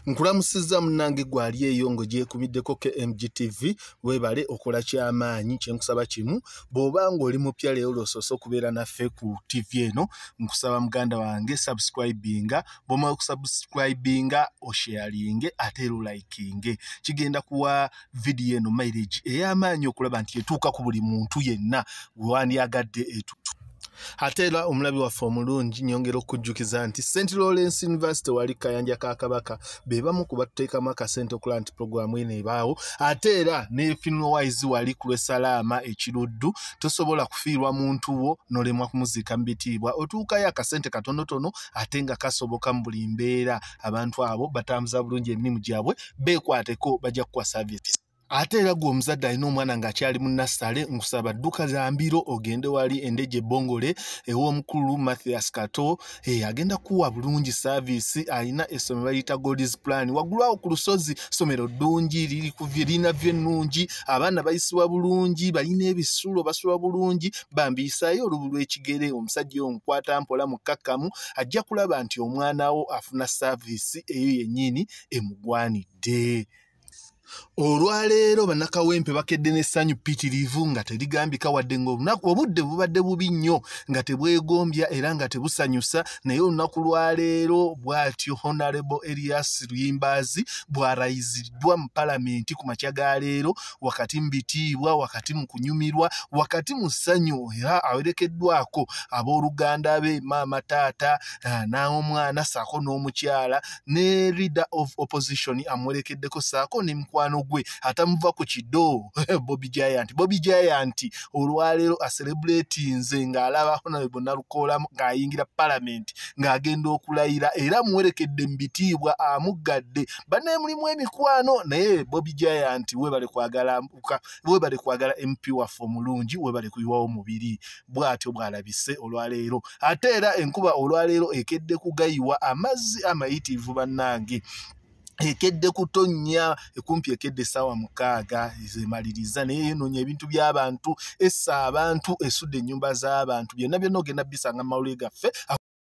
nkulamusizza munange gwali eyo ngo gyekubiddeko kmgtv webale okola kyamaanyi kyenkusaba kimu bwoba ngaoli mupya leero lwosoose okubeera naffe ku tv eno nkusaba muganda wange subscribinga bwomala okusubscribinga osharinge ate era olikinge kigenda kuwa vidiyo eno maireji ey'amaanyi okulaba nti etuuka ku buli muntu yenna wewandyagadde etutu ate era omulabi waffe omulungi nyongera okujjukiza nti st lawrence university wali kayanja ka kabaka be bamu ku batuteekamu akasente okulaba nti puroguramu eno ebaawo ate era nefinwise wali ku lwesalaama ekiruddu tosobola kufiirwa muntu wo nolemwa kumuziika mu bitiibwa otuukayo akasente katonotono ate nga kasoboka mu buli mbeera abantu abo batambuza bulungi emirimu gyabwe beekwateko bajja kukuwa service ate era gwe omuzadde alina omwana ng'akyali mu nassale nkusaba dduka za mbiro ogende wali endeje ebongole ew'omukulu mathias kato eh, agenda kuwa bulungi saaviisi alina essomero baliyita goldis plan waggulu awo ku lusozi ssomero ddungi lirina vyo ennungi abaana bayisibwa bulungi balina ebisulo basula bulungi bambiyisayo olubu lw'ekigere omusajja omukwata mpola mukkakkamu ajja kulaba nti omwana wo afuna saaviisi eyo yennyini emugwanidde olwaleero bannakawempe bakedde n'essanyu pitirivu nga terigambika wadde ngaolunaku obudde bubadde bubi nnyo nga tebwegombya era nga tebusanyusa naye olunaku lwaleero bwatyo honarable elias luyimbaazi bwarayiziddwa mu palamenti ku makya ga leero wakati mu bitiibwa wakati mu kunyumirwa wakati mu ssanyu era awerekeddwako abooluganda be maama taata eh, n'omwana saako n'omukyala ne leader of opposition amwerekeddeko saako ne mukwano gwe atamuva ku kido bobi giant bobi giant olwaleero aserebuleti nze ng'alaba honarebo nalukoolamu ng'ayingira palamenti ng'agenda okulayira era amuwerekedde mu bitiibwa amuggadde bane mulimu emikwano naye bobi giant webale kwagala mpuka webale kwagala mp waffe omulungi webale kuyiwawo mubiri bw'atyo bw'alabise olwaleero ate era enkuba olwaleero ekedde kugayiwa amazzi amayitiivu bannange ekedde kutonnya ekumpi ekedde essaawa mukaaga zemaliriza naye yenonya ebintu by'abantu essa abantu esudde ennyumba z'abantu byonna byonna ogenda bisanga mu mawulire gaffe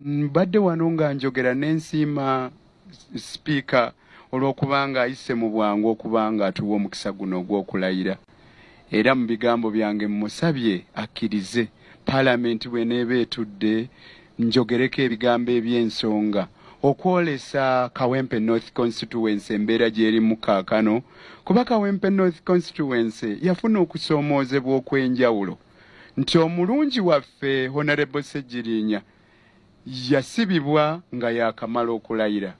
mbadde wano nga njogera n'ensiima sipiika olw'okubanga ayise mu bwangu okubanga atuwa omukisa guno ogw'okulayira era mu bigambo byange mmusabye akkirize palamenti bw'eneeba etudde njogereko ebigambo eby'ensonga okwolesa kawempe north constituency embeera gy'erimu kaakano kuba kawempe north constituency yafuna okusoomoozebwa okw'enjawulo nti omulungi waffe Honorable Ssegirinya yasibibwa nga yakamala okulayira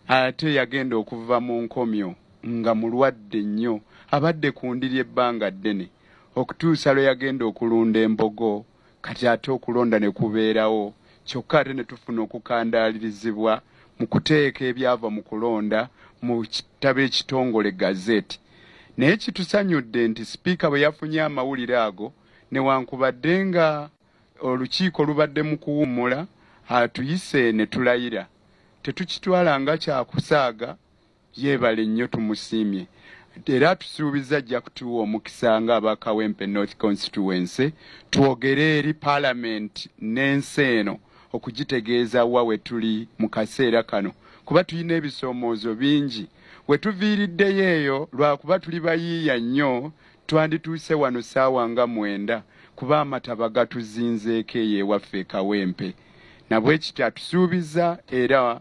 ate yagenda okuva mu nkomyo nga mulwadde nnyo abadde ku ndiri ebbanga ddene okutuusa lwe yagenda okulunda embogo kati ate okulonda ne kubeerawo kyokka ate ne tufuna okukandaalirizibwa mu kuteeka ebyava mu kulonda mu kitabo ekitongole gazeti Naye kitusanyudde nti sipiika bwe yafunye amawulire ago newankubadde nga olukiiko lubadde mu kuwummula atuyise ne tulayira tetukitwala nga kyakusaaga yeebale nnyo tumusiimye era atusuubizza ajja kutuwa omukisa nga aba Kawempe North Constituency twogere eri Palamenti n'ensi eno okugitegeeza wa wetuli mu kaseera kano kuba tulina ebisoomoozo bingi. We tuviiriddeyo eyo lwa kuba tuli bayiiya nnyo twandituuse wano ssaawa nga mwenda kuba amataba gatuzinzeeko eyo ewaffe e Kawempe. Nabwekityo atusuubizza era.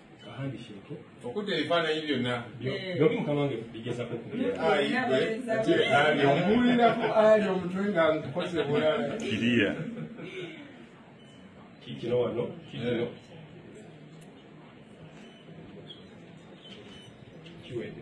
okudda ebifaananyi byonna byoli mukama wange bigezako omuwulirako ali omutwe nga nkukoze bulala kiriya kikino wano kikino kiwede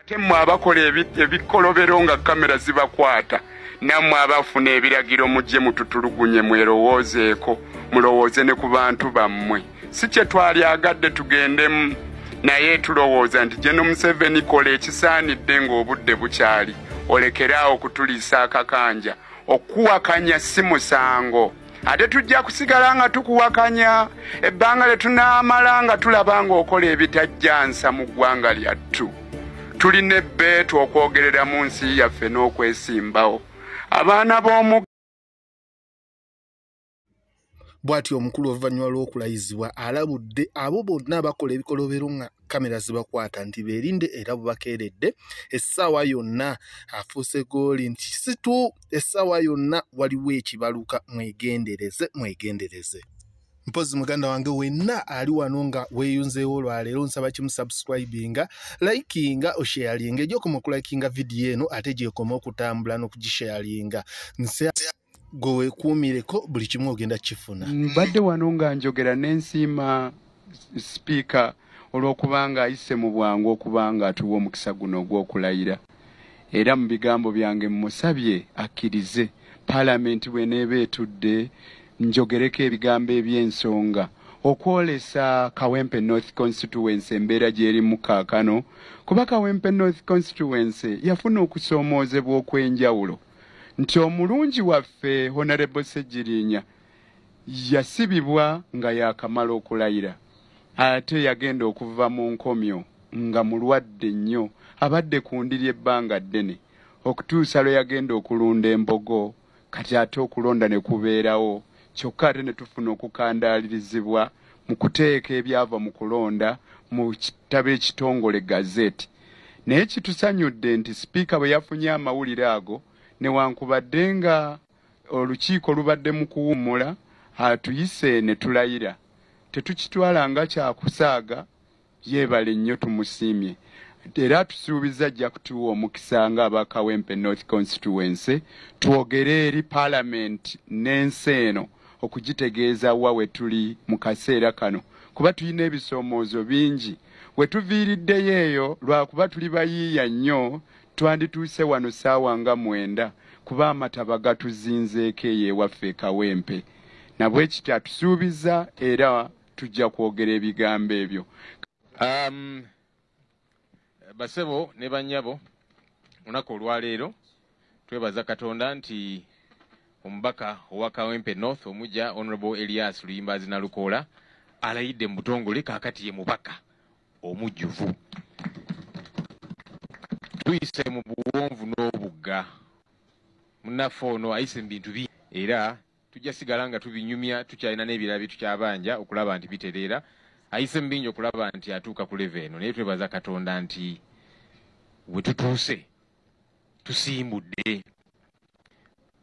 ate mwe abakola ebikolobero nga kamera zibakwata nammwe abafuna ebiragiro mujje mututulugunye mwerowoozeeko mulowooze ne ku bantu bammwe si kye twali agadde tugendemu naye tulowooza nti geno museveni kola ekisaanidde ng'obudde bukyali olekere awo okutuliisa akakanja okuwakanya si musango ate tujja kusigala nga tukuwakanya ebbanga lye tunaamala nga tulaba ng'okola ebitajjansa mu ggwanga lyattu tulina ebbeetu okwogerera mu nsi yaffe n'okwesimbawo abaana b'omu bw'atyo omukulu oluvannyuma lw'okulayizibwa alabudde abo bonna abakola ebikolobero nga kamera zibakwata nti berinde era bubakeeredde essaawa yonna afuuse gooli nti situ essaawa yonna waliwo ekibaluka mwegendereze mwegendereze mpozi muganda wange wenna ali wano nga weyunzeewo olwaleero nsaba kimu subscribinga likinga osharinga egyokoma okulakinga vidiyo eno ate gyekoma okutambula n'okugisharinga gwe wekuumireko buli kimu ogenda kifuna mbadde wano nga njogera nensiima sipiika olw'okubanga ayise mu bwangu okubanga atuwa omukisa guno ogw'okulayira era mu bigambo byange mmusabye akkirize palamenti bweneeba etudde njogereko ebigambo eby'ensonga okwolesa kawempe north constituency embeera gyerimu kaakano kuba kawempe north constituency yafuna okusoomoozebwa okw'enjawulo nti omulungi waffe Honorable Ssegirinya yasibibwa nga yakamala okulayira ate yagenda okuva mu nkomyo nga mulwadde nnyo abadde ku ndiri ebbanga ddene okutuusa lwe yagenda okulunda embogo kati ate okulonda ne kubeerawo kyokka ate ne tufuna okukandaalirizibwa mu kuteeka ebyava mu kulonda mu kitabo ekitongole gazeti Naye kitusanyudde nti sipiika bwe yafunye amawulire ago newankubadde nga olukiiko lubadde mu kuwummula atuyise ne tulayira tetukitwala nga kya kusaaga yeebale nnyo tumusiimye era atusuubizza ajja kutuwa omukisa nga aba Kawempe North Constituency twogere eri Palamenti n'ensi eno okugitegeeza wa we tuli mu kaseera kano kuba tulina ebisoomoozo bingi We tuviiriddeyo eyo lwakuba tuli bayiiya nnyo twandituuse wano ssaawa nga mwenda kuba amataba gatuzinzeeko eyo ewaffe e Kawempe. Nabwekityo atusuubizza era tujja kwogera ebigambo ebyo. Um, basebo ne bannyabo, lunaku olwaleero Twebaza Katonda nti omubaka owa Kawempe North omugya Honorable Elias Luyimbaazi Nalukoola alayidde mu butongole kaakati ye mubaka omujjuvu. Tuyise mu buwonvu n'obugga. Munnaffe ono ayise mu bintu bingi era tujja sigala nga tubinyumya tukyalina n'ebirala bye tukyabanja okulaba nti bitereera. Ayise mu bingi okulaba nti atuuka ku leve eno naye twebaza Katonda nti we tutuuse tusimbudde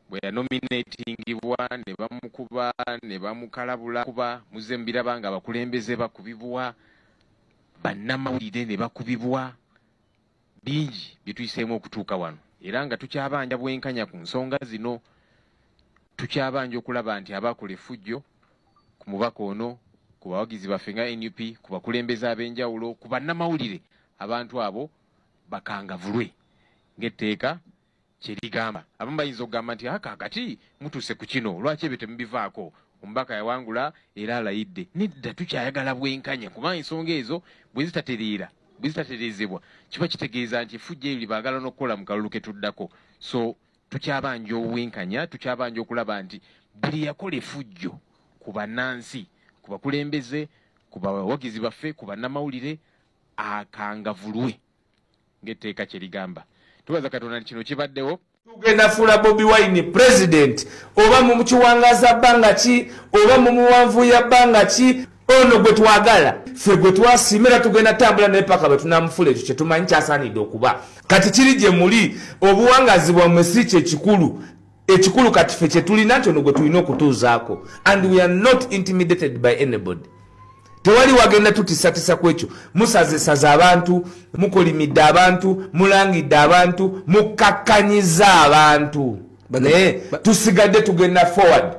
bwe yanominatingibwa ne bamukuba ne bamukalabula kuba muzze mubiraba nga abakulembeze bakubibwa bannamawulire ne bakubibwa bingi bye tuyiseemu okutuuka wano era nga tukyabanja bwenkanya ku nsonga zino tukyabanja okulaba nti abakola effujjo ku mubaka ono ku bawagizi baffe nga nup ku bakulembeze ab'enjawulo ku bannamawulire abantu abo bakangavulwe ng'etteeka kye ligamba. Abamu bayinza okugamba nti aka kati mutuuse ku kino, lwaki ebyo temubivaako? Omubaka yawangula era alayidde. Nedda, tukyayagala bwenkanya kuba ensonga ezo bwe zitatereera bwe zitatereezebwa kiba kitegeeza nti effujjo eryo lye baagala n'okukola mu kalulu ke tuddako. So tukyabanja obwenkanya, tukyabanja okulaba nti buli yakola effujjo ku bannansi, ku bakulembeze, ku bawagizi baffe, ku bannamawulire akangavulwe ng'etteeka kye ligamba tubaza katonda nti kino kibaddewo tugenda fuula bobi wine president oba mu kiwangaza bbanga ki oba mu muwanvu ya bbanga ki ono gwe twagala ffe gwe twasiima era tugenda tambula naye paka bwe tunamufuula ekyo kye tumanyi kyasaanidde okuba kati kiri gye muli obuwangazi bwammwe si kye kikulu ekikulu kati fe kyetulina nti ono gwe tulina okutuuzaako and we are not intimidated by anybody tewali wagenda tutisatisa ku ekyo musazesaza abantu mukolimidde abantu mulangidde abantu mukkakkanyiza abantu naye tusigadde tugenda forward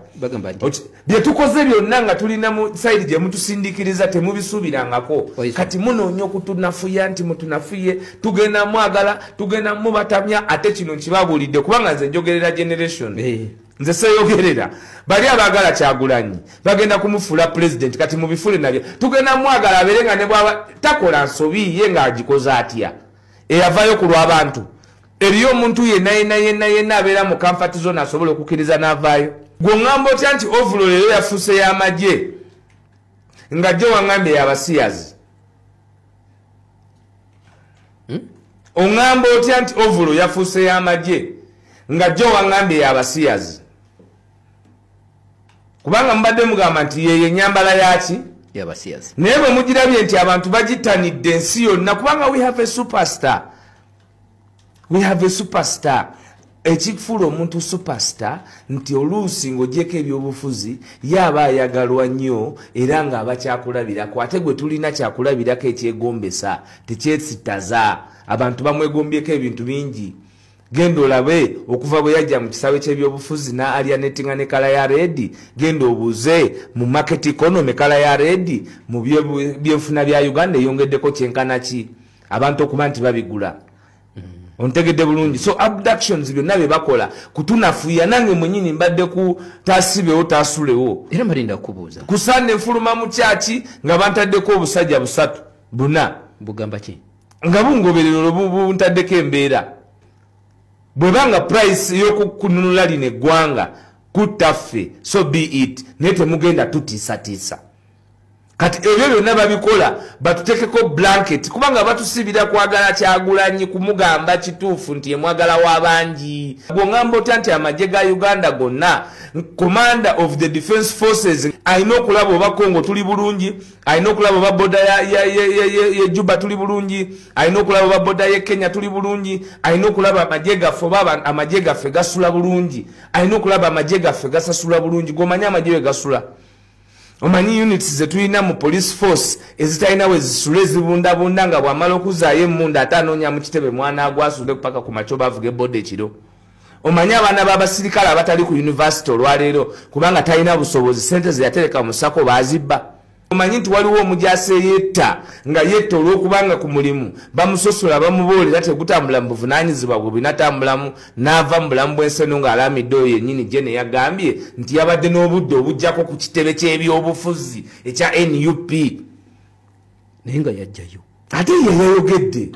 bye tukoze byonna nga tulina mu sayidi gye mutusindikiriza temubisuubirangako kati munoonya okutunafuya nti mutunafuye tugenda mwagala tugenda mubatamya ate kino nkibabuulidde kubanga nze njogerera generation nze seyogerera bali abaagala kyagulanyi bagenda kumufuula pulezidenti kati mubifule nabyo tugenda mwagala abeere nga ne bwaba takola nsobi ye ng'agikoze atya eyavayo ku lw'abantu eriyo omuntu yenayenayenayenna abeera mu kamfati zona asobola okukiriza n'avaayo gwe oŋamba otya nti ovulo leero yafuuse y'amagye nga jo waŋambye yabasiyazi hmm? oŋamba otya nti ovulo yafuuse y'amagye nga jo waŋambye yabasiyazi kubanga mubadde mugamba nti yeyo enyambala yaki naye bwe mugirabye nti abantu bagitanidde ensi yonna kubanga we have a superstar we have a superstar ekifuula omuntu superstar nti oluusi ng'ogyeko ebyobufuzi ye aba ayagalwa nnyo era ng'aba kyakulabirako ate gwe tulina kyakulabirako ekyegombesa tekyesitaza abantu bamwegombyeko ebintu bingi genda olabe okuva bwe yajja mu kisaawe ky'ebyobufuzi na alianetinga ne kala ya redi genda obuuze mu market economy kala ya redi mu byenfuna bya uganda eyongeddeko kyenkana ki abantu okuba nti babigula ontegedde bulungi so abductions byonna bye bakola kutunafuya nange mwenyini mbadde ku tasibewo tasulewo era malinda kubuuza kusande nfuluma mu kyaki nga bantaddeko obusajja busatu buna bugamba ki nga bungoberero lwebuntaddeko embeera bwebanga price yokukununula lino eggwanga kuttaffe so be it naye temugenda tutiisatiisa kati ebyo byonna babikola batutekeko blanket kubanga batusibira kwagala kyagulanyi kumugamba kituufu nti emwagala wabangi gwongamba otya nti amagye ga uganda gonna commander of the defense forces alina okulaba oba congo tuli bulungi alina okulaba oba boda ye juba tuli bulungi alina okulaba oba boda ye kenya tuli bulungi alina okulaba amagye gaffe oba amagye gaffe gasula bulungi alina okulaba amagye gaffe gasasula bulungi gomanye amagye we gasula omanyi units zetulina mu police force ezitalina wezisula ezibundabunda nga bwamala okuzaayo emunda ate anoonya mu kitebe mwana agwasude kupaka ku makyo bavuga ebode ekiro omanyi abaana babasirikale abatali ku univesity olwaleero kubanga talina busobozi sente zeyatereka musako bazibba omanyi nti waliwo omujasi eyetta nga yetta olwokubanga ku mulimu bamusosola bamuboolera tegutambula mu buvunanyizibwa bwe binatambulamu n'ava mu bulamu bw'ensi eno ng'alaamidde oyo yennyini gye ne yagambye nti yabadde n'obudde obujjako ku kitebe ky'ebyobufuzi ekya nup naye nga yajjayo ate ye yayogedde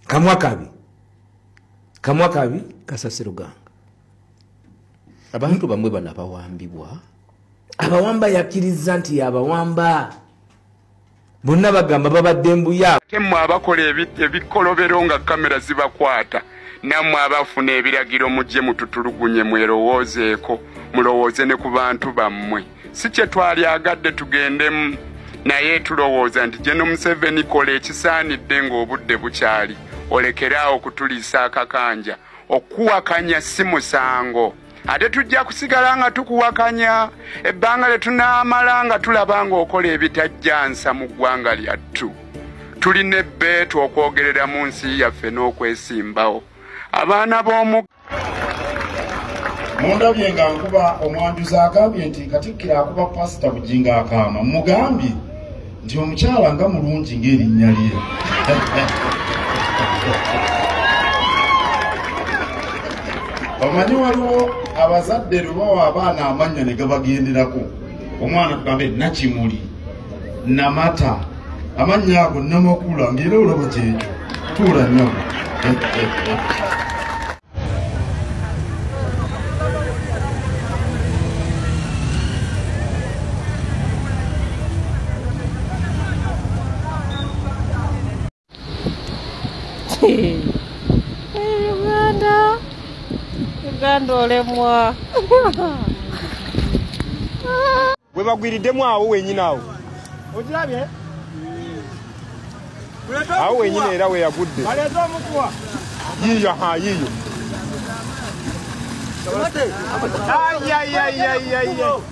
kamwa kabi kamwa kabi kasasiruganga abantu bamwe bano abawambibwa abawamba yakkiriza nti yabawamba bonna bagamba babadde mbuya ate mwe abakola ebikolobero nga kamera zibakwata nammwe abafuna ebiragiro mujje mututulugunye mwerowoozeeko mulowooze ne ku bantu bammwe si kye twali agadde tugendemu naye tulowooza nti geno museveni kola ekisaanidde ng'obudde bukyali olekeraawo okutuliisa akakanja okuwakanya si musango ate tujja kusigala nga tukuwakanya ebbanga lye tunaamala nga tulaba ng'okola ebitajjansa mu ggwanga lyattu tulina ebbeetu okwogerera mu nsi yaffe n'okwesimbawo abaana b'omu mundabye nga nkuba omwanjuzi agambye nti katikkiro akuba pasita bujinga akaama mugambye nti omukyala nga mulungi ng'erinnya lye omanyi waliwo abazadde lubawa abaana amannya ne gabagenderako omwana tugambe nakimuli namata amannya ago namakula ngaera olaba kyekyo tuula nyabo Uganda. Uganda olemwa. we bagwiriddemu awo wenyini awo okirabye awo wenyini era we yagudde yiyo ha yiyo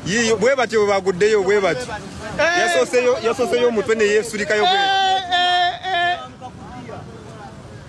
yiyo bwe batyo bwe baguddeyo bwe batyo eh. yasoseyo omutwe ne yeesulikayo bwe eh, eh,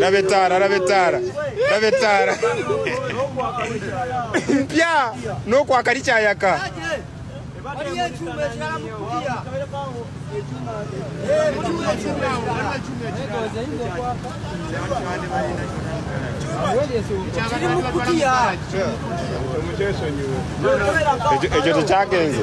laba ettaala laba ettaala laba ettaala mpya n'okwakali kyayaka ekyo tekyagenze